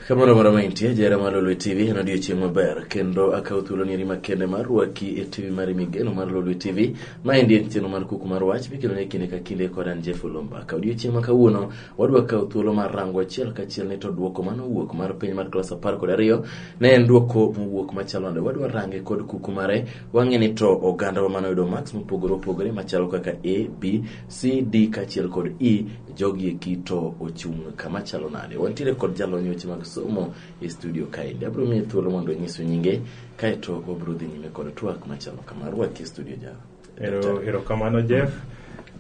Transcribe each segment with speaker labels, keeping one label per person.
Speaker 1: kamano moro maintie jera mar lolwe tv en odiochieng' maber kendo akawo thuolo nieri makende mar rwaki e tv mari migeno mar lolwe tv ma endi en chenro mar kuku mar wach mikelo ne kinde ka kinde kod an jeff olomba ka odiochieng' ma kawuono wadwa kawo thuolo mar rango achiel kachiel ni to dwoko mane owuok mar penj mar klas apar kod ariyo ne en dwoko mowuok machalo nade wadwa range kod kuku mare Wang'e ni to ogandawa mane oyudo marks mopogore opogore machalo kaka A, B, C, D kaachiel kod E jogi eki to ochung' kama chalo nade. Wantiere kod jalony weche mag somo e studio kaendi. Abiro miye thuolo mondo onyiswa nyinge kaeto wabiro dhi nyime kod twak machalo kama. Rwaki e studio ja. Ero, Daktari. ero
Speaker 2: kamano Jeff.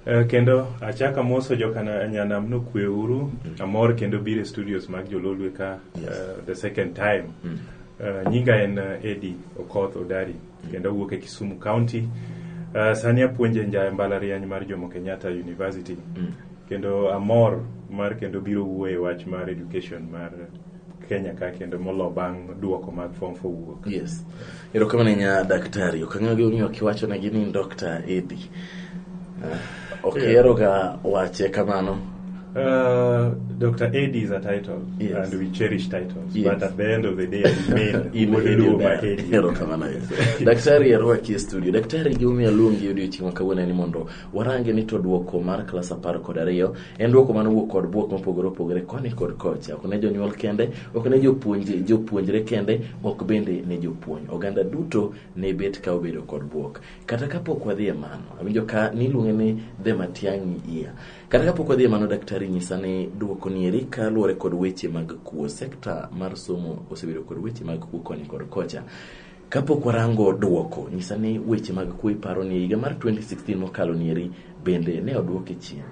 Speaker 2: Eh, kendo achaka moso jokanyanam no kwe uru amor kendo biro e studios mag jololwe ka Yes. eh, the second time Mm. Uh, nyinga en uh, Eddie Okoth Odari kendo awuok e Kisumu County. Uh, sani apuonje nja mbalariany mar Jomo Kenyatta University Mm. kendo amor mar kendo biro wuoye wach mar education mar Kenya ka kendo molo bang' duoko mag form for wuok. Yes.
Speaker 1: Erokamano nya daktari. Okang'eyo gimomiyo kiwacho ne gini Dr. Eddie. Ah. Ok, yeah. ero ga wache kamano. Uh,
Speaker 2: Dr. Eddie is a title, yes. and we cherish titles. Yes. But at the end of the day, I mean, in Eddie by Eddie. Hero kamana
Speaker 1: yes. Daktari yarua ki studio. Daktari giumi alungi yudio chima kawena ni mondo. Warange ni to duoko mar klasa par kod ariyo. En duoko mano wuok kod buok mopogore opogore koni kod kocha. Ok ne jonyuol kende, ok ne jopuonje, jopuonjre kende, ok bende ne jopuonj. Oganda duto ne bet ka obedo kod buok. kata kapok wadhi e mano awinjo ka niluonge ni the matiang'i iya kata kapok wadhi e mano daktari nyisa ni dwoko ni eri kaluwore kod weche mag kuo sekta mar somo osebedo kod weche mag kuo koni kod kocha kapok warango dwoko nyisa ni weche mag kuo iparo ni higa mar 2016 mokalo ni eri bende ne odwoke chien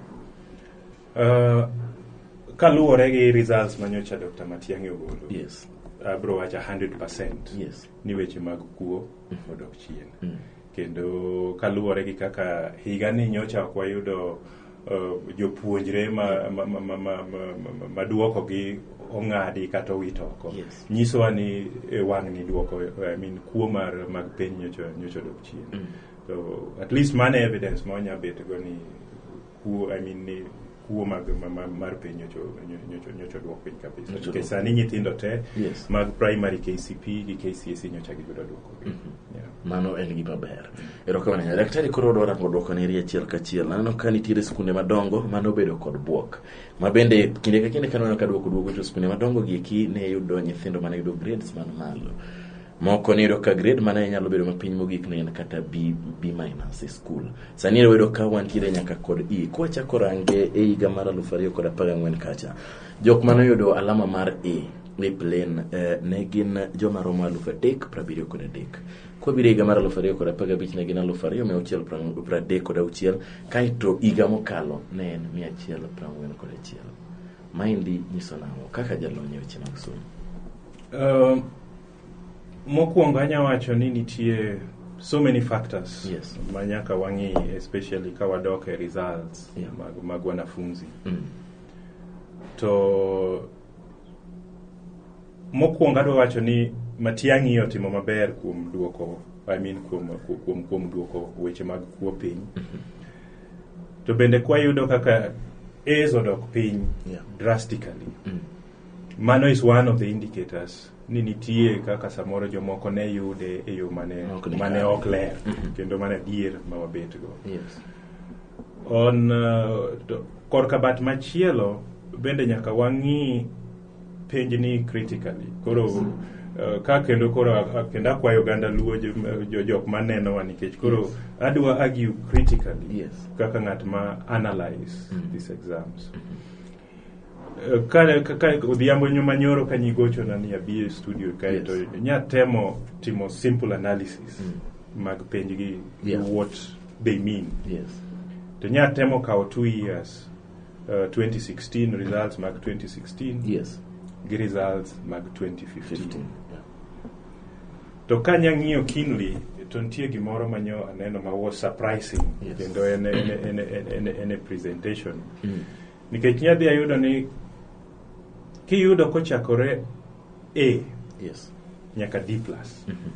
Speaker 1: uh,
Speaker 2: kaluwore gi results manyocha dr matiang'i ogolo yes abro
Speaker 1: wacha
Speaker 2: 100 yes ni weche
Speaker 1: mag
Speaker 2: kuo odok chien mm. kendo kaluwore gi kaka higa ni nyocha ok wayudo uh, jopuonjre maduoko ma, ma, ma, ma, ma gi ong'adi kata owit oko yes. nyisowa ni e, wang' ni duoko I mean, kuo mar mag piny nyocha nyocha odok chien mm. so at least mano evidence ma wanya bet go ni kuo I mean, ni kuo mag ma- ma- mar piny nyocho nyocho- nyocho dwok piny kabisa Nyocho nikech dwok. sani nyithindo te Yes. mag primary kcp gi kcse nyocha giyudo dwoko Yeah. mano
Speaker 1: en gima ber erokamano ahinya daktari koro odwa rango dwoko neri achiel kachiel aneno ka nitiere skunde madongo mane obedo kod bwok ma bende kinde ka kinde kaneno ka dwoko duogo to skunde madongo gi eki ne yudo nyithindo mane yudo grades man malo moko niyudo ka grade mana nyalo bedo mapiny mogik ne en kata b b minus e skul sani ero wayudo ka wantiere nyaka kod e kwachako range e higa mar aluf ariyo kod apar gang'wen kacha jok mane oyudo alama mar e e plane eh, ne gin joma romo aluf adek prabiriyo kod adek kwabiro higa mar aluf ariyo kod apar gabich ne gin aluf ariyo mia auchiel prang- pradek kod auchiel kaeto higa mokalo ne en mia achiel prang'wen kod achiel maendi nyiso nang'o kaka jalony e weche mag somo
Speaker 2: Um, mokwongo anya wacho ni nitie so many factors Yes. ma nyaka
Speaker 1: wang'i
Speaker 2: especially ka wadok e results Yeah. mag, mag wanafunzi Mm. to mokwongo adwa wacho ni matiang'i otimo maber kuom duoko I mean kuom, ku- kuom, kuom duoko weche mag kuo piny to bende kwayudo kaka A's odok piny Yeah. drastically Mm. Mano is one of the indicators ni nitie kaka samoro jomoko ne yude e yo mane Ok ni mane kare. ok ler Mhm. kendo mane adier ma wabetgo. Yes.
Speaker 1: On
Speaker 2: uh, to- korka bat machielo bende nyaka wang'i penjni critically. Koro uh, ka kendo koro a- a- kendo akwayo oganda luo jo- jo- jok manenowa nikech koro Yes. adwa argue critically Yes. kaka ng'at ma analyze Mhm. these exams. kare kaka odhiambo nyuma nyoro ka nyigochona ni abi e studio kae Yes. to nyatemo timo simple analysis mag penjgi Yeah. what they mean Yes.
Speaker 1: to nyatemo
Speaker 2: kawo two years uh, 2016 results mag 2016 Yes. gi
Speaker 1: results
Speaker 2: mag 2015 15. Yeah. to ka nyang'iyo kinly to nitie gimoro manyo aneno ma was surprising Yes. kendo en, en, en, en, en, en a presentation Mm. nikech inya dhi ayudo ni kiyudo kochakore a yes nyaka d plus Mhm.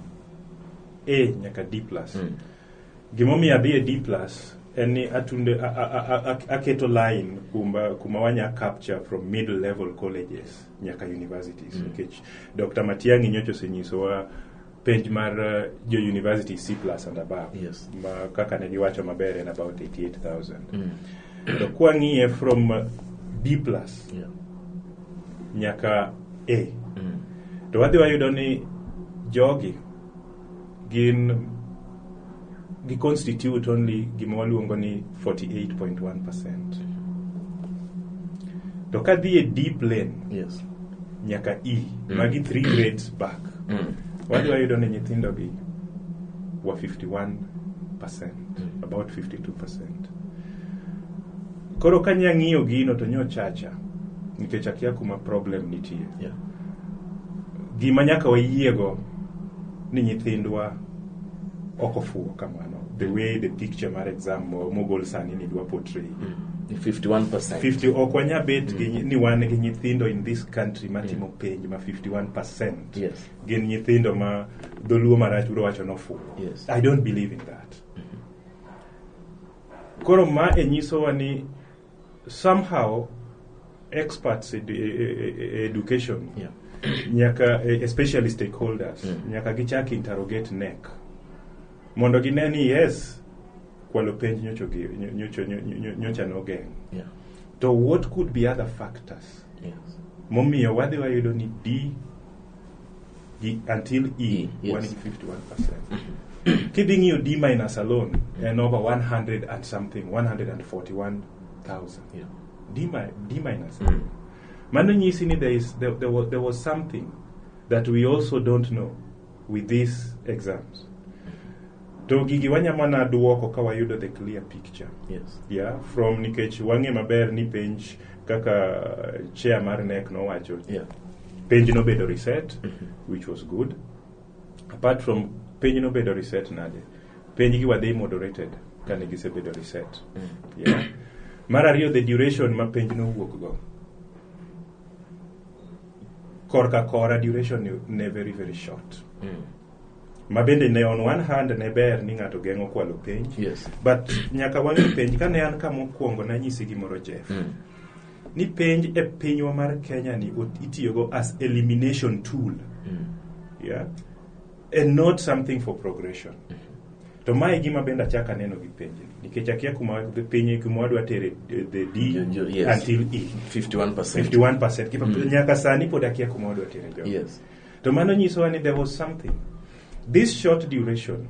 Speaker 2: a nyaka d plus Mm. gimomiyo adhi e d plus en ni atunde a- a- a- a- aketo line kuma, kuma wanya capture from middle level colleges nyaka universities Mm. nikech dr matiangi nyocha osenyisowa page mar uh, jo university C plus and above Yes. ma kaka
Speaker 1: ne giwacho
Speaker 2: maber en about 88000 Mm. to kwang'iye from uh, B plus Yeah. nyaka A Mm. to wadhi wayudo ni jogi gin gi constitute only gima waluongo ni 48.1% to ka dhi e d plane Yes. nyaka e Mm. magi three grades back Mm. wadhi wayudo ni nyithindogi wa 51% Mm. about 52% koro ka nya ng'iyo gino to nyochacha nikech akia kuma problem nitie Yeah. gima nyaka wayiego ni nyithindwa ok ofuwo kamano the way the picture mar exam mo- mogol sani ni dwa portray Ni 51%. 50
Speaker 1: ok wanya
Speaker 2: bet gi nyi- ni wan gi nyithindo in this country matimo penj ma 51% Yes. gin nyithindo ma dholuo marach biro wacho nofuwo Yes. i don't believe in that koro ma e nyisowa ni somehow experts in, in education Yeah. nyaka especially stakeholders Mm. nyaka gichak interrogate NEC mondo gine ni yes kwalo penj nyocho gi- nyo- nyocho- nyo- nyo- nyocha nogeng' Yeah. to what could be other factors Yes. momiyo wadhi wayudo ni d gi until e E, yes. wan gi 51% kidhi ng'iyo d minus alone en over 100 and something 141000 Yeah. d, mi- d minus Mm. mano nyisi ni there, is, there, there, was, there was something that we also don't know with these exams to gigi wanyamana duoko ka wayudo the clear picture Yes. yeah, from nikech wang'e maber ni penj kaka chair mar nek nowacho Yeah. penj nobedo reset which was good apart from penj nobedo reset nade penj gi wadhi moderated kane gisebedo reset yeah. mar ariyo the duration ma penj nowuok go korka kora duration ne- ne very very short ma bende ne on one hand ne ber ni ng'ato geng'o kwalo penj Yes. but nyaka wang'e penj kane an ka mokwongo nanyisi gimoro jeff Mm. ni penj e pinywa mar kenya ni ot- itiyogo as elimination tool yeah? and not something for progression to ma e gima bende achak aneno gi penj nikech akia kuma gi piny kuma wadwa tere eh, the d Jo- jo- yes. until e 51%. 51% Kipa- Mm. nyaka sani pod akia kuma wadwa tere jogo Yes. to mano nyisowa ni there was something this short duration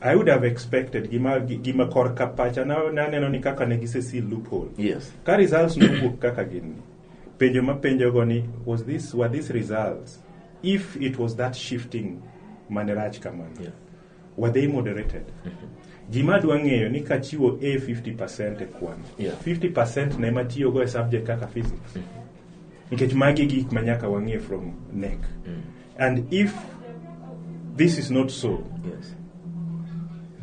Speaker 2: I would have expected gima, gima kor ka pacha naneno ni kaka ne gisesil loophole. Yes. Ka results nowuok kaka gin penjo ma penjogo ni was this were these results if it was that shifting mane rach kamano. Yeah. Were they moderated? Mm-hmm. Gima dwa ng'eyo ni kachiwo A 50% e kwan. Yeah. 50% na ema tiyogo e subject kaka physics. Mm-hmm. nikech magi gik ma nyaka wang'e from neck mm. and if this is not so yes.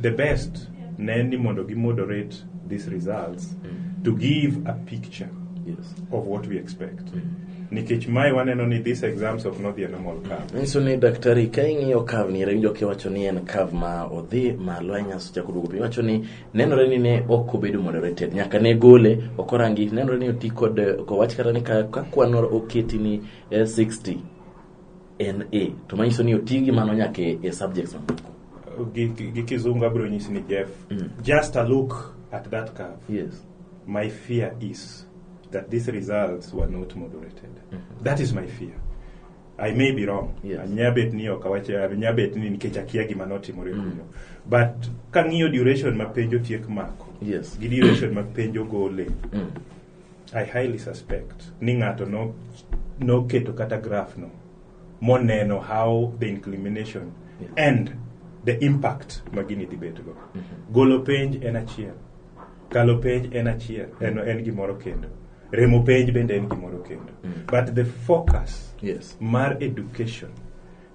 Speaker 2: the best ne ni mondo gi moderate these results mm. to give a picture yes. of what we expect mm. nikech mae waneno ni these exams of not the normal curve nyiso ni daktari ka
Speaker 1: ing'iyo curve ni iwinjo kiwacho ni en curve ma odhi malo ahinya seche kuduogo piny wacho ni nenore ni ne ok obedo moderated nyaka ne gole ok orangi nenore ni oti kod eh, ok owach kata ni ka ka kwan oketi ni eh, 60 en a to manyiso ni oti gi mano nyaka e e subjects mamoko gi gi-
Speaker 2: gi kizungu abiro nyisi ni jeff Mm. just a look at that curve yes my fear is that these results were not moderated that is my fear I may be wrong. Yes. Nyabet ni ok awach nyabet ni nikech akia gima notimore mm. kuno. But kang'iyo duration ma penjo tiek mako. Yes. Gi duration ma penjo gole. Mm. I highly suspect ni ng'ato no noketo kata graph no moneno how the inclination yes. and the impact ma gini dhi bet go. Mm -hmm. Golo penj en achiel. Kalo penj en achiel. Mm -hmm. En, en gimoro kendo. remo penj bende en gimoro kendo mm. but the focus yes. mar education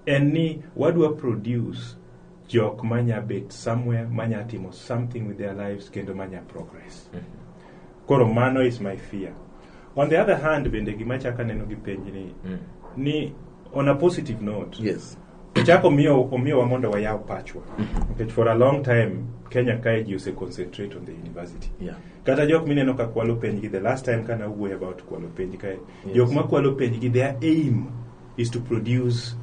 Speaker 2: en ni wadwa produce jok manya bet somewhere manya timo something with their lives kendo manya progress mm -hmm. koro mano is my fear on the other hand bende gima chaka neno gi penj ni mm. ni on a positive note yes chako omiyo omiyowa mondo wayaw pachwa nikech for a long time kenya kae ji ose concentrate on the university Yeah. kata jok mineno ka kwalo penjgi the last time kana wuoyo about kwalo penj kae Yes. jok ma kwalo penjgi their aim is to produce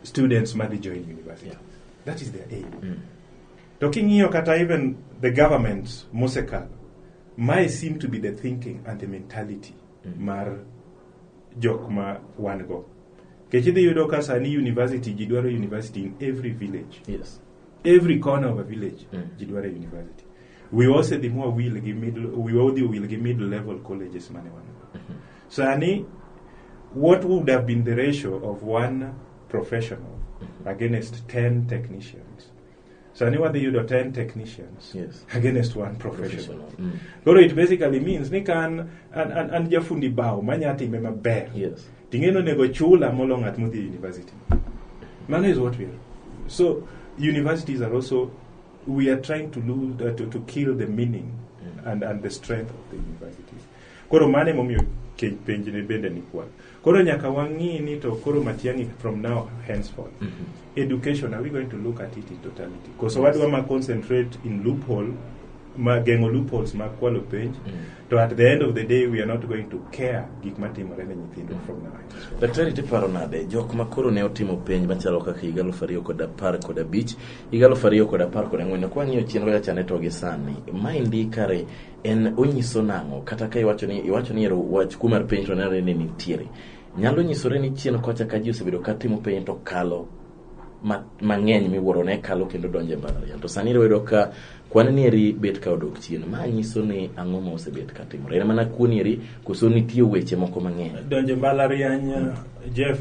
Speaker 2: students madhi join university Yeah. that is their aim Mm. to king'iyo kata even the government mosekalo mae seem to be the thinking and the mentality Mm. mar jok ma wan go kech idhi yudo ka sani university ji dwaro university in every village yes every corner of a village Mm. ji dwaro university wiwa osedhi mwa wil gi middle wiwa odhi wil gi middle level colleges mane wan go sani what would have been the ratio of one professional against 10 technicians sani wadhi yudo 10 technicians Yes. against one professional Mm. koro it basically means ni ka an, an, an, an jafundi bao manya time maber Yes. ting'eno nego chula molo ng'at modhi e university mano is what we are so universities are also we are trying to lose uh, to, to kill the meaning and, and the strength of the universities koro mano emomiyo ke- penjni bende ni kwan Koro nyaka wang'i ni to koro Matiang'i from now henceforth. Mm -hmm. Education, are we going to look at it in totality? Koso yes. wadwa ma concentrate in loophole, ma geng'o loopholes ma kwalo penj, mm -hmm. to at the end of the day we are not going to care gik matimore ne nyithindo mm -hmm. from now henceforth. Daktari tiparo
Speaker 1: nade, jok ma koro ne otimo penj machalo kaka higa aluf ariyo kod apar kod abich, higa aluf ariyo kod apar kod ang'wen, kwang'iyo chenro ya chane to gi sani, ma indi kare en onyiso nang'o kata ka iwacho ni iwacho ni ero wach kuo mar piny to nenore ni nitiere nyalo nyisore ni chien kocha ka ji osebedo ka timo piny to kalo ma- mang'eny miwuoro ne kalo kendo donjo e mbalariany to sani iyudo ka kwan nieri bet ka odok chien ma nyiso ni ang'o ma osebet ka timore en mana kuo nieri koso nitie weche moko mang'eny donjo mbalariany
Speaker 2: jeff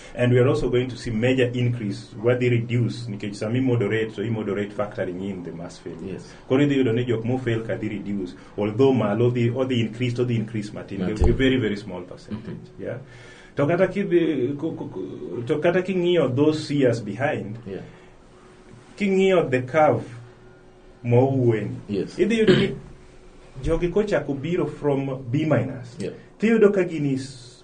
Speaker 2: And we are also going to see major increase wadhi reduce nikech sama imodorate so imodorate factory in the mass fail. Yes. Koro idhi yudo ni jok mo fail ka dhi reduce although malo odhi odhi increase to odhi increase matin. They will be Matin. very very small percentage. Yeah. To kata kidhi ku- ku- ku- to kata king'iyo those years behind Yeah. king'iyo the curve mowueni Yes. idhi yudo ni jogi kochako biro from b minus Yeah. tiyudo ka gini s-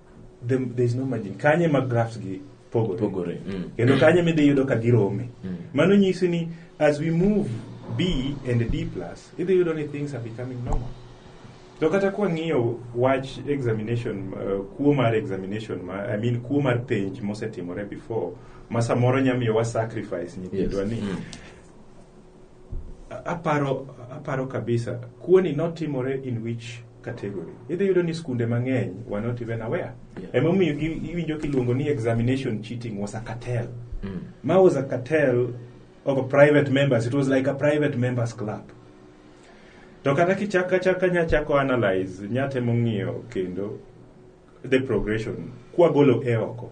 Speaker 2: the, there is no margin kanye ma graphs gi pogore Pogore, mm. kendo kanye midhi yudo ka girome Mm. mano nyisi ni as we move b and d plus idhi yudo ni things are becoming normal to kata kwang'iyo wach examination uh, kuo mar examination ma, i mean kuo mar penj mosetimore before ma samoro nyamiyo wa sacrifice nyithindwa Yes. ni Mm. aparo aparo kabisa kuoni notimore in which category idhi yudo ni skunde mang'eny were not even aware Yeah. emomiyo gi- iwinjo kiluongo ni examination cheating was a cartel Mm. ma was a cartel of a private members it was like a private members club to kata kichaka chaka nyachako analyze nyatemo ng'iyo kendo the progression kwagolo e oko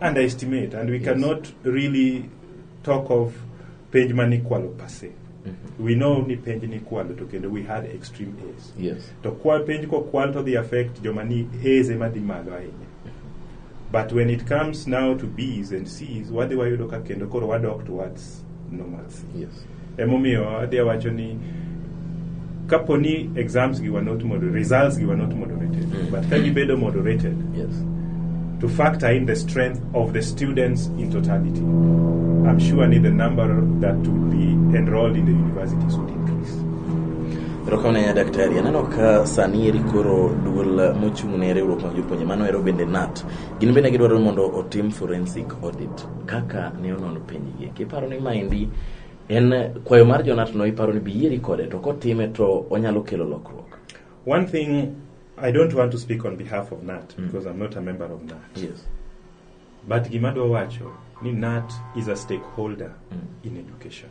Speaker 2: underestimate and we cannot really talk of penj ma nikwalo per se we know ni penj nikwalo to kendo we had extreme A's Yes. to kwa penj kokwal to the affect joma ni A's ema dhi malo ahinya but when it comes now to B's and C's wadhi wayudo ka kendo koro wadok towards normalcy Yes.
Speaker 1: Emomiyo adhi
Speaker 2: awacho ni kapo ni exams gi were not moderated, results gi were not moderated, mm. but ka gibedo moderated, yes.
Speaker 1: to factor
Speaker 2: in the strength of the students in totality, I'm sure ni the number that would be enrolled in the universities would increase. erokamano
Speaker 1: ahinya daktari aneno ka sani eri koro duol mochung' ne riwruok mag jopuonje mano ero bende nat gin bende gidwaro mondo otim forensic audit kaka ne onono penjgi kiparo ni maendi en kwayo mar jonatno iparo ni biyieri kode to kotime to onyalo kelo lokruok one thing
Speaker 2: i don't want to speak on behalf of nat mm. because i'm not a member of nat yes.
Speaker 1: but
Speaker 2: gima dwa wacho ni nat is a stakeholder mm. in education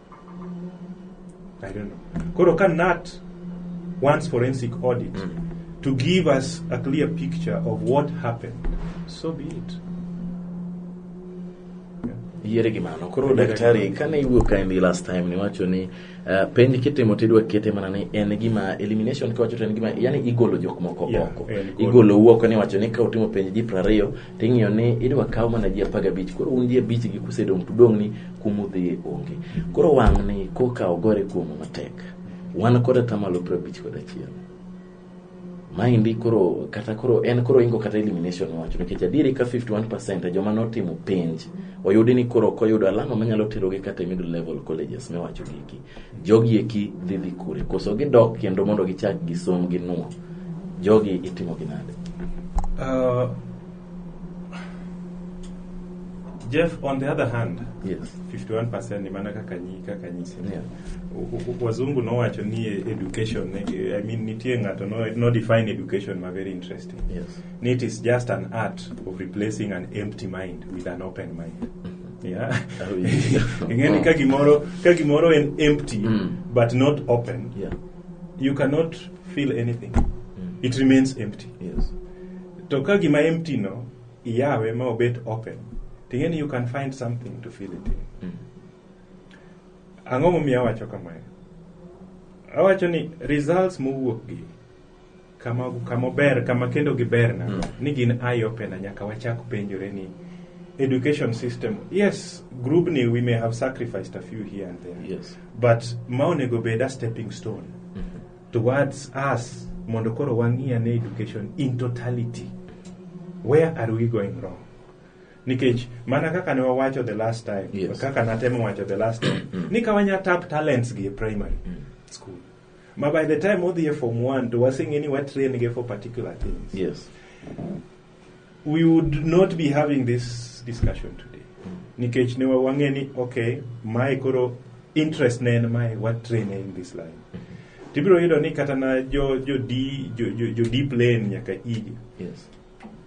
Speaker 2: I don't know. Koro ka NAT wants forensic audit to give us a clear picture of what happened, so be it.
Speaker 1: yiere gi mano koro Yiere gi daktari mano. kane iwuok ka endi last time niwacho ni uh, penj kitimo tidwa kete mana ni en gima elimination kiwacho to en gima yani igolo jok moko Yeah, oko en golo. igolo uoko niwacho ni ka utimo penj ji prariyo ting'iyo ni idwa kaw mana ji apar gabich koro un ji abich gi kusedong' to udong' ni kumudhiye onge koro wang' ni koka ogore kuomu matek wan kod atamalo piero abich kod achiel maendi koro kata koro en koro ingo kata elimination wacho nikech adieri ka 51% e joma notimo penj oyudi ni koro ok oyudo alama manyalo terogi kata e middle level colleges miwacho gigi Jogi eki dhi dhi kure? Koso gidok kendo mondo gichak gisom gi nuo? Jogi itimo gi nade? Uh,
Speaker 2: Jeff, on the other hand, Yes.
Speaker 1: 51% ni mana
Speaker 2: kaka nyi kaka nyisi. Yeah. U- u- Wazungu nowacho ni e- education, eh, I mean nitie ng'ato no, no define education ma very interesting. Yes. Ni it is
Speaker 1: just an
Speaker 2: art of replacing an empty mind with an open mind. Yeah. Oh, yeah. ing'eni ka gimoro ka gimoro en empty Mm. but not open Yeah.
Speaker 1: you cannot
Speaker 2: feel anything Mm. it remains empty Yes.
Speaker 1: to ka
Speaker 2: gima empty no iyawe ma obet open ting'eni you can find something to fill it in Mm. ang'o momiyo awacho kamano awacho ni results mowuok gi kama kama ober kama kendo giber na ni gin eye opener nyaka wachak penjore ni education system yes grubni we may have sacrificed a few here and there Yes. but
Speaker 1: ma onego
Speaker 2: bed a stepping stone towards us mondo koro wang'i ane education in totality where are we going wrong nikech mana kaka ne wawacho the last time Yes. kaka natemo wacho the last time ni ka wanya tap talents gi e primary school ma by the time odhi e form 1 to waseng'e ni watrain ge for particular things yes we would not be having this discussion today nikech ne wa- wang'e ni okay mae koro interest ne en mae watrain in this line tibiro yudo ni kata na jo jo d jo, jo, jo deep lane nyaka igi yes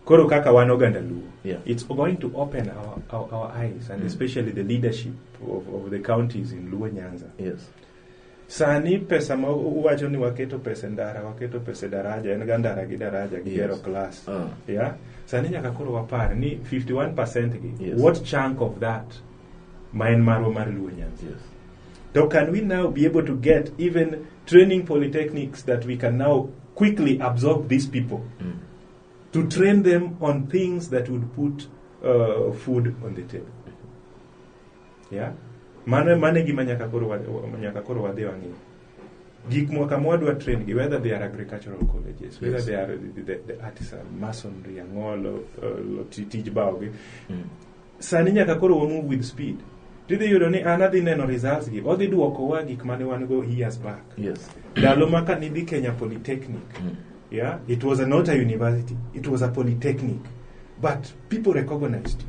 Speaker 1: koro kaka
Speaker 2: wan oganda luo Yeah. it's going to
Speaker 1: open
Speaker 2: our, our, our eyes and Mm. especially the leadership of, of the counties in luo nyanza yes
Speaker 1: Sani
Speaker 2: pesa ma uwacho ni waketo pesa e ndara, waketo pesa e daraja, en ga ndara gi daraja gi Yes. gero class. Ah. Yeah. Sani nyaka koro wapar ni 51% gi Yes. what chunk of
Speaker 1: that
Speaker 2: ma en marwa mar Luo Nyanza. Yes. So
Speaker 1: can we
Speaker 2: now be able to get even training polytechnics that we can now quickly absorb these people Mm. to train them on things that would put uh, food on the table? Yeah. Mano mano e gima nyaka koro wa- wa- nyaka koro wadhi wang'i. Gik mwa kama wadwa train gi whether they are agricultural colleges, whether Yes. they are the, the, the artisan, masonry, ang'olo, uh, ti- tij bao gi. Mm. Sani nyaka koro wa move with speed. Tidhi yudo ni an adhi neno results gi, odhi duokowa gik mane wan go years back. Yes. Ndalo
Speaker 1: ma
Speaker 2: ka nidhi Kenya Polytechnic, Mm. yeah, it was not a university, it was a polytechnic, but people recognized you.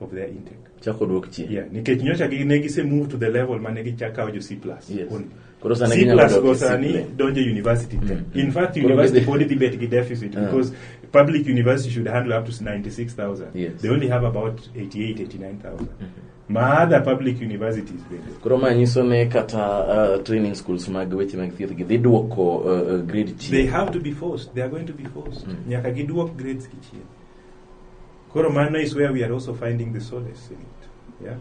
Speaker 2: of their intake. Chako odwok chien. Yeah,
Speaker 1: nikech nyocha gi
Speaker 2: ne gise move to the level mane gichako kawo jo C+. Yes. Only. Koro
Speaker 1: sana C+,
Speaker 2: ginyalo dok go
Speaker 1: e sani C+.
Speaker 2: donjo university te. Mm. In fact, Koro university gidhi- pod dhi bet gi deficit Yeah. because public university should handle up to 96,000. Yes. They only have
Speaker 1: about 88, 89,000.
Speaker 2: Ma other public universities bende. Koro ma nyiso
Speaker 1: ne kata uh, training schools mag weche mag thieth gi dhi dwoko uh, uh, grade chien. They have to be forced.
Speaker 2: They are going to be forced. Mm. Nyaka giduok grades gi chien. Koro mano is where we are also finding the solace in it. Yeah?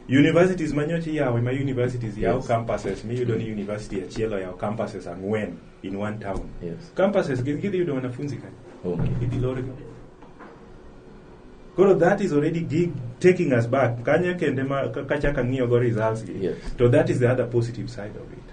Speaker 2: Universities manyochi yawe ma universities yes. yawo campuses miyudo ni university achiel oyawo campuses ang'wen in one town. Yes. Campuses gin
Speaker 1: gidhi yudo
Speaker 2: wanafunzi kani. Okay. Idhi lorgi. Koro that is already gig taking us back. Kanye kende ma kachaka ng'iyo go results gi. Yes. To that is the
Speaker 1: other
Speaker 2: positive side of it.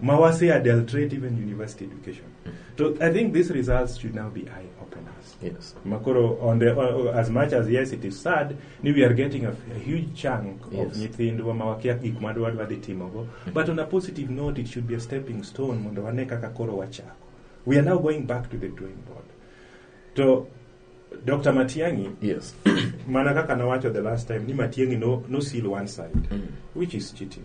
Speaker 2: ma wase adulterate even university education so i think these results should now be eye openers Yes. makoro
Speaker 1: on the o-
Speaker 2: o- as much as yes it is sad ni we are getting a, a huge chunk of Yes. nyithindwa ma wakia gik ma dwa dhi timogo but on a positive note it should be a stepping stone mondo wane kaka koro wachako we are now going back to the drawing board to dr matiangi Yes.
Speaker 1: mana kaka
Speaker 2: nawacho the last time ni matiangi no, no seal one side Mm. which is cheating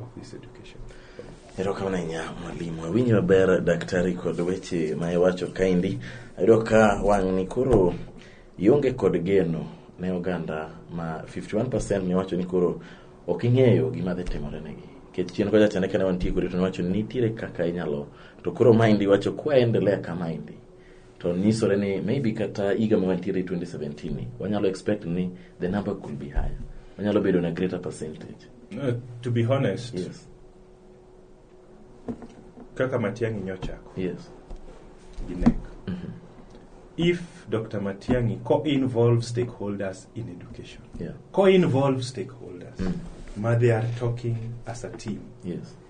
Speaker 2: of this education. Erokamano
Speaker 1: ahinya mwalimu. Awinjo maber daktari kod weche ma iwacho kaendi. Ayudo ka wang'ni koro ionge kod geno ne oganda ma 51% miwacho ni koro ok ing'eyo gima dhi timore negi. Nikech chien kocha chande kane wantie kodi to niwacho ni nitiere kaka inyalo to koro maendi iwacho kwa endelea kama endi. to nyisore ni maybe kata higa ma wantiere 2017 ni wanyalo expect ni the number could be higher wanyalo bedo na greater percentage Uh, to be
Speaker 2: honest, yes kaka
Speaker 1: Matiang'i nyochako
Speaker 2: yes gi NEC. If Dr. Matiang'i co-involves stakeholders in education, yeah co-involves stakeholders, Mm. ma they are talking as a team, yes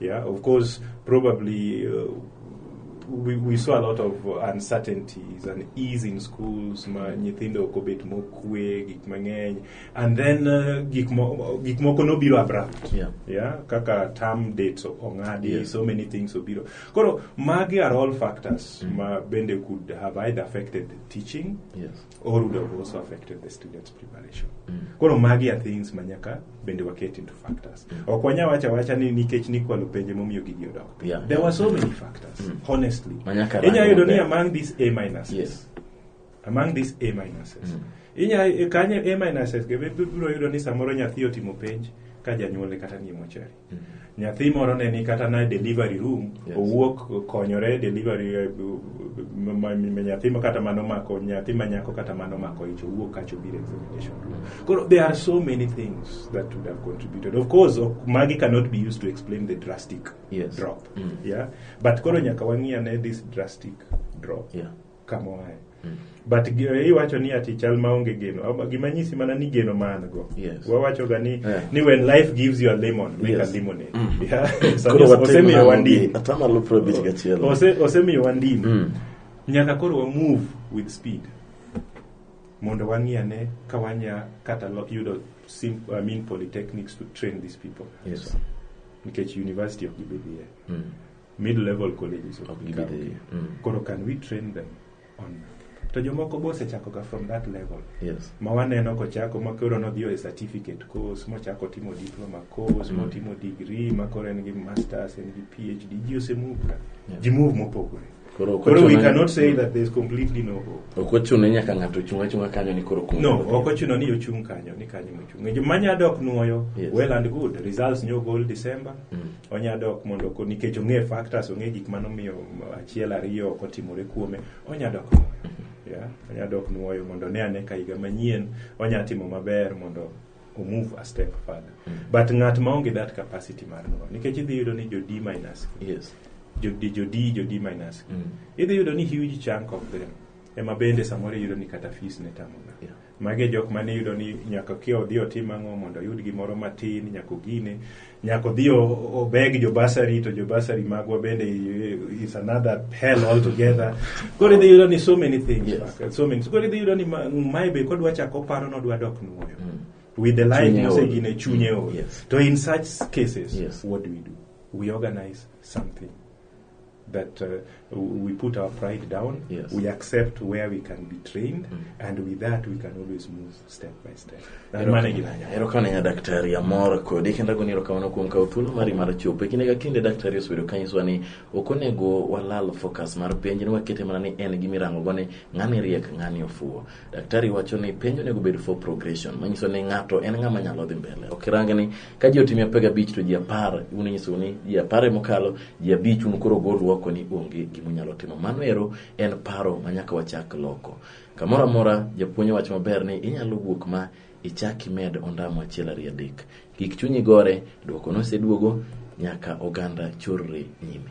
Speaker 2: Yeah, of course, probably uh, we, we saw a lot of uncertainties and ease in schools ma nyithindo ok obet mokwe gik mang'eny and then uh, gik mo- gik moko nobiro abrupt Yeah. yeah kaka term dates o- ong'adi Yes. so many things obiro koro magi are all factors ma bende could have either affected teaching Yes. or would have also affected the students' preparation. Koro magi are things ma nyaka bende waket into factors. Ok wanya wacha wacha ni nikech nikwalo penje momiyo gigi odok piny. Yeah. There were so many factors, Mm. honestly. Ma nyaka rang Inya yudo ni maber. among these A minuses. Yes. Among these A minuses. Mm. Inya e, kanye A minuses ge bibiro yudo ni samoro nyathi otimo penj ka janyuole kata ni mochari. nyathi moro ne ni kata na delivery room yes. owuok konyore delivery eh, nyathi kata mano mako nyathi manyako kata mano mako ich owuok kacho biro examination room koro there are so many things that would have contributed of course magi cannot be used to explain the drastic yes. drop mm. yeah but koro nyaka wang'iya ne this drastic drop yeah. kama oaye mm. but eh, iwacho ni ati chal maonge geno gima nyisi mana ni geno ma an go yes. wawachoga ni, yeah. ni when life gives you a lemon make yes. a limonade mm. yeah. osemiyo wandini
Speaker 1: osemiyo wandini
Speaker 2: mm. nyaka koro wa move with speed mondo wang'i ane ka wanya kata yudo sim, I mean, polytechnics to train these people yes. nikech university ok gibedie mm. mid level colleges ok gidhi dhi mm. koro can we train them on to jomoko be osechakoga from that level yes. ma waneno kochako ma koro nodhiyo e certificate course mochako timo diploma course mm. motimo degree ma koro en gi masters en gi phd ji osemuvga yeah. ji move mopogore koro we cannot say that there's completely no hope ok ochuno nyaka ng'ato
Speaker 1: ochung' achung'a kanyo ni koro kum no ok ochuno ni ochung'
Speaker 2: kanyo ni kanyo mochung' e joma nya dok nwoyo yes. well and good results nyo gol december mm. onya dok mondo ko nikech ong'e factors ong'e gik mano miyo achiel ariyo ok otimore kuome onya dok yeah. onya dok nuoyo mondo ne ane ka higa manyien onya timo maber mondo o move a step further but ng'at ma onge that capacity mar nuoyo nikech idhi yudo ni jo d minus yes jo d jo d jo d minus Mm. idhi yudo ni huge chunk of them ema bende samoro iyudo ni kata fees ne tamoga Yeah. Magi e jok mane iyudo ni nyaka kia odhi otim ang'o mondo oyud gimoro matin, nyaka ogine, nyaka odhi o- obeg jo basari to jo basari magwa bende i- is another hell altogether. Koro idhi yudo ni so many things. Yes. Paka, So many. Koro idhi yudo ni ma- mae be kodwa chako oparo ni odwa dok nuoyo. With the life Chunye ol. mosegine chunye ol. Yes. To in such cases, Yes. what do we do? We organize something. that uh, we put our pride down, yes. we accept where we can be trained, mm. and with that we can always move step by step. Erokana
Speaker 1: ya daktari ya mora kodi kenda goni erokamano kuom kawo thuolo mari mar chopo e kinde ka kinde daktari osebedo kanyiswa ni ok onego walal focus mar penj ni wakete mana ni en gi mirango go ni ng'ani riek ng'ani ofuwo Daktari wacho ni penjo onego bed for progression, manyiso ni ng'ato en ng'ama nyalo dhi mbele. Ok irang ni ka ji otimi apar gabich to ji apar un inyisou ni ji apar mokalo, ji abich un koro gol oko ni onge gima unyalo timo. Mano ero en paro ma nyaka wachak loko. Kamoro amora japuonj wacho maber ni inyalo wuok ma ichak imed ondamo achiel ariyo adek. Kik chunyi gore, dwoko noseduogo nyaka oganda chorre nyime.